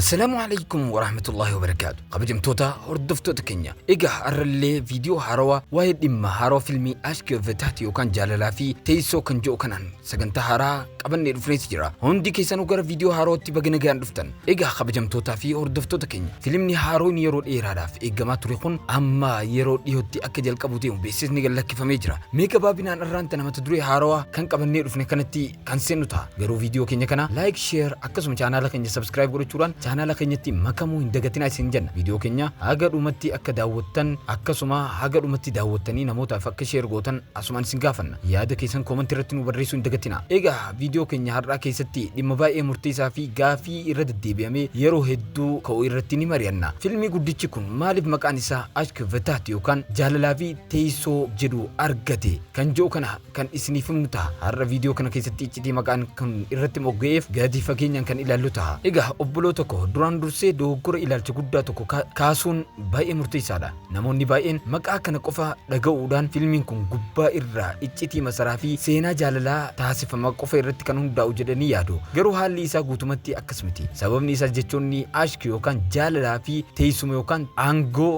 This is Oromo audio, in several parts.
Assalaamu alaikum warahmatullahi wabarakaatu kabajamtoota hordoftoota keenya egaa har'allee viidiyoo haarawaa waa'ee dhimma haarawaa filmii ashki of taati yookaan jaalalaa fi teessoo kan jedhu kanaan sagantaa haaraa qabannee dhufneeti jira hundi keessanuu gara viidiyoo haarawaatti baga nagaan dhuftan egaa kabajamtootaa fi hordoftoota keenya filimni haaroon yeroo dheeraadhaaf eegamaa ture kun amma yeroo dhiyootti akka jalqabu ta'u beeksisni gad lakkifamee jira mee gabaabinaan irraanta namata duree haarawaa kan qabannee dhufne kanatti kan seennu ta'a. Garuu viidiyoo keenya kana like, share akkasuma chaanaala keenya subscribe godhachuudhaan chaanaala keenyatti makamuu hin dagatinaa isin jenna. Viidiyoo keenya haga dhumatti akka daawwattan akkasuma haga dhumatti daawwattanii namootaaf akka share gootan asumaan isin gaafanna. Yaada keessan comment irratti nu barreessuu hin dagatinaa. Egaa viidiyoo keenya har'aa keessatti dhimma baay'ee murteessaa fi gaafii irra deddeebi'amee yeroo hedduu ka'u irratti ni mari'anna. Filmii guddichi kun maaliif maqaan isaa Ashk Vetaat yookaan jaalalaa fi teessoo jedhu argate kan jedhu kana kan isiniif himnu ta'a. Har'a viidiyoo kana keessatti iccitii maqaan kun irratti mogga'eef gadi fageenyaan kan ilaallu ta'a. Egaa obboloo tokko duraan dursee dogoggora ilaalcha guddaa tokko kaasuun baay'ee murteessaadha. Namoonni baay'een maqaa kana qofa dhaga'uudhaan fiilmiin kun gubbaa irraa iccitii masaraa fi seenaa jaalalaa taasifama qofa irratti kan hundaa'u jedhanii yaadu. Garuu haalli isaa guutumatti akkas miti. Sababni isaas jechoonni ashk yookaan jaalalaa fi teessuma yookaan aangoo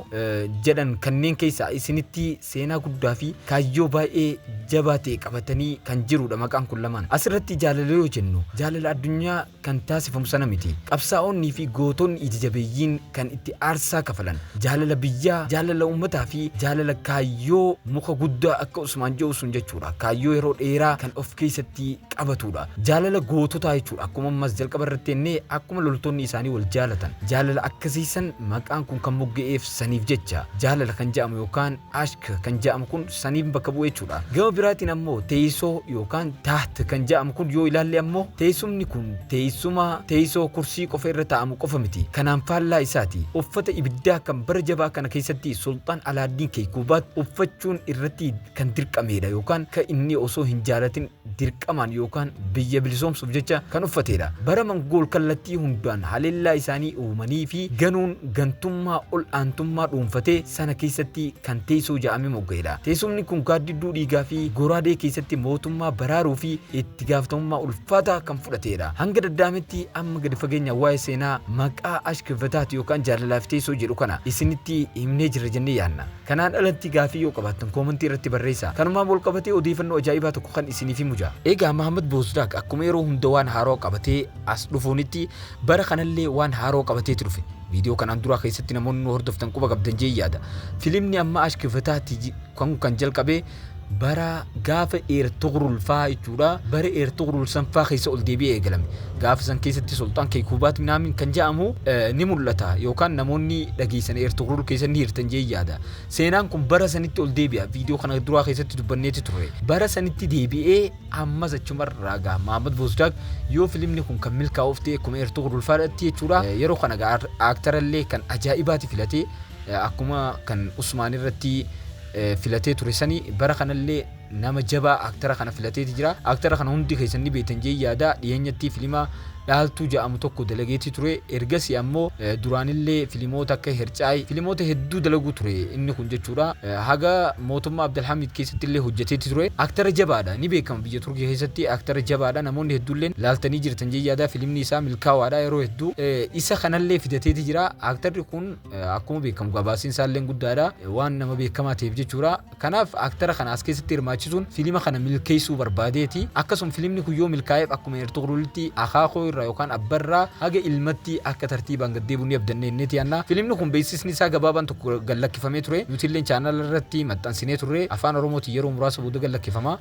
jedhan kanneen keessaa isinitti seenaa guddaa fi kaayyoo baay'ee jabaa ta'e qabatanii kan jiruudha maqaan kun lamaan. Asirratti jaalala yoo jennu jaalala addunyaa kan taasifamu sana miti. Qabsaa'oonnii fi gootonni ija jabeeyyiin kan itti aarsaa kafalan jaalala biyyaa, jaalala uummataa fi jaalala kaayyoo muka guddaa akka Usmaan jedhu sun jechuudha. Kaayyoo yeroo dheeraa kan of keessatti qabatuudha. Jaalala goototaa jechuudha. Akkuma ammas jalqaba irratti jennee akkuma loltoonni isaanii wal jaalatan jaalala akkasii san maqaan kun kan mogga'eef Saniif jecha, jaalala kan ja'amu yookaan ashq kan ja'amu kun saniin bakka bu'e jechuudha. Gama biraatiin ammoo teeysoo yookaan taht kan ja'amu kun yoo ilaalle ammoo teeysumni kun teeysuma, teeysoo, kursii qofa irra taa'amu qofa miti. Kanaan faallaa isaati. Uffata ibiddaa kan bara jabaa kana keessatti Sulxaan Alaaddiin Keeykuubaat uffachuun irratti kan dirqameedha yookaan ka inni osoo hin jaalatin dirqamaan yookaan biyya bilisoomsuuf jecha kan uffateedha. Bara Mangool kallattii hundaan haleellaa isaanii uumanii fi ganuun gantummaa ol aantummaa dhuunfatee sana keessatti kan teessoo ja'ame mogga'eedha. Teessumni kun gaaddidduu dhiigaa fi goraadee keessatti mootummaa baraaruu fi itti gaafatamummaa ulfaataa kan fudhateedha. Hanga dada'ametti amma gadi fageenyaan waa'ee seenaa maqaa Ashk Vetaat yookaan jaalalaa fi teessoo jedhu kana isinitti himnee jirra jennee yaadna. Kanaan alatti gaaffii yoo qabaattan koomantii irratti barreessaa. Kanumaan walqabatee odeefannoo ajaa'ibaa tokko kan isiniif himu jira. Egaa Mahammad Boozdaaq akkuma yeroo hunda waan haarawa qabatee as dhufuunitti bara kanallee waan haarawa qabateeti dhufe. Viidiyoo kanaan duraa keessatti namoonni nu hordoftan quba qabdan jeen yaada. Filimni amma Ashk Fetaah ti jidhu kan kan jalqabe bara gaafa Eertugrul faa jechuudha. Bara Eertugrul san faa keessa ol deebi'ee eegalame. Gaafa san keessatti Sulxaan Keekuubaat Minaamin kan ja'amu ni mul'ata yookaan namoonni dhageessan Eertugrul keessa ni hirtan jee yaada. Seenaan kun bara sanitti ol deebi'a. Viidiyoo kana duraa keessatti dubbanneeti turre. Bara sanitti deebi'ee ammas achuma irraa gaha. Mahammad Boozdaag yoo filimni kun kan milkaa'uuf ta'e akkuma Eertugrul faadhatti jechuudha. Yeroo kana gaa aaktarallee kan ajaa'ibaati filate akkuma kan Usmaan irratti filatee ture sani bara kanallee nama jabaa aktara kana filateeti jira. Aktara kana hundi keessan ni beektan jee yaada dhiyeenyatti filima dhaaltuu ja'amu tokko dalageeti ture ergasi ammoo duraanillee filimoota akka hercaay filimoota hedduu dalaguu ture inni kun jechuudha haga mootummaa Abdalhamiid keessatti illee hojjeteeti ture aktara jabaadha ni beekama biyya Turkii keessatti aktara jabaadha namoonni hedduulleen laaltanii jirtan jee yaada filimni isaa milkaawaadha yeroo hedduu isa kanallee fidateeti jira aktarri kun akkuma beekamu gabaasiin isaallee guddaadha waan nama beekamaa ta'eef jechuudha kanaaf aktara kana as keessatti hirmaachisuun fiilima kana milkeessuu barbaadeeti akkasuma fiilimni kun yoo milkaa'eef akkuma ertuqrulitti akaakoo irraa yookaan abbarraa haga ilmatti akka tartiibaan gad deebi'u ni abdanne inneeti anna fiilimni kun beeksisni isaa gabaabaan tokko gad lakkifamee ture nutillee chaanala irratti maxxansinee turre afaan oromootiin yeroo muraasa booda gad lakkifama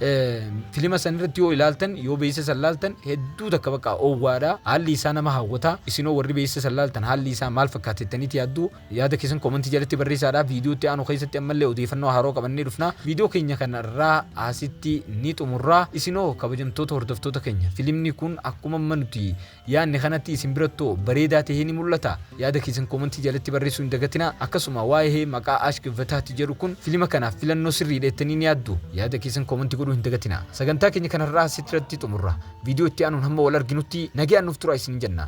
fiilima san irratti yoo ilaaltan yoo beeksisa san ilaaltan hedduu takka bakka owwaadha. Haalli isaa nama hawwata. Isin hoo warri beeysa san laaltan haalli isaa maal fakkaata jettaniiti yaaddu? Yaada keessan comment jalatti barreeysaadha. Video itti aanu keessatti ammallee odeeyfannoo haarawa qabannee dhufna. Video keenya kan har'aa asitti ni xumurra. Isin hoo kabajamtoota hordoftoota keenya filimni kun akkumamma nuti yaanne kanatti isin biratti hoo bareedaa tahee ni mul'ata? Yaada keessan koomantii jalatti barreessuu hin dagatinaa. Akkasuma waa'ee maqaa Ashk Vetaht jedhu kun filima kanaaf filannoo sirriidha jettanii ni yaaddu? Yaada keessan koomantii godhuu hin dagatinaa. Sagantaa keenya kan har'aa asitratti xumurra. Viidiyoo itti aanuun hamma wal arginutti nagayaan nuuf turaa isiniin jenna.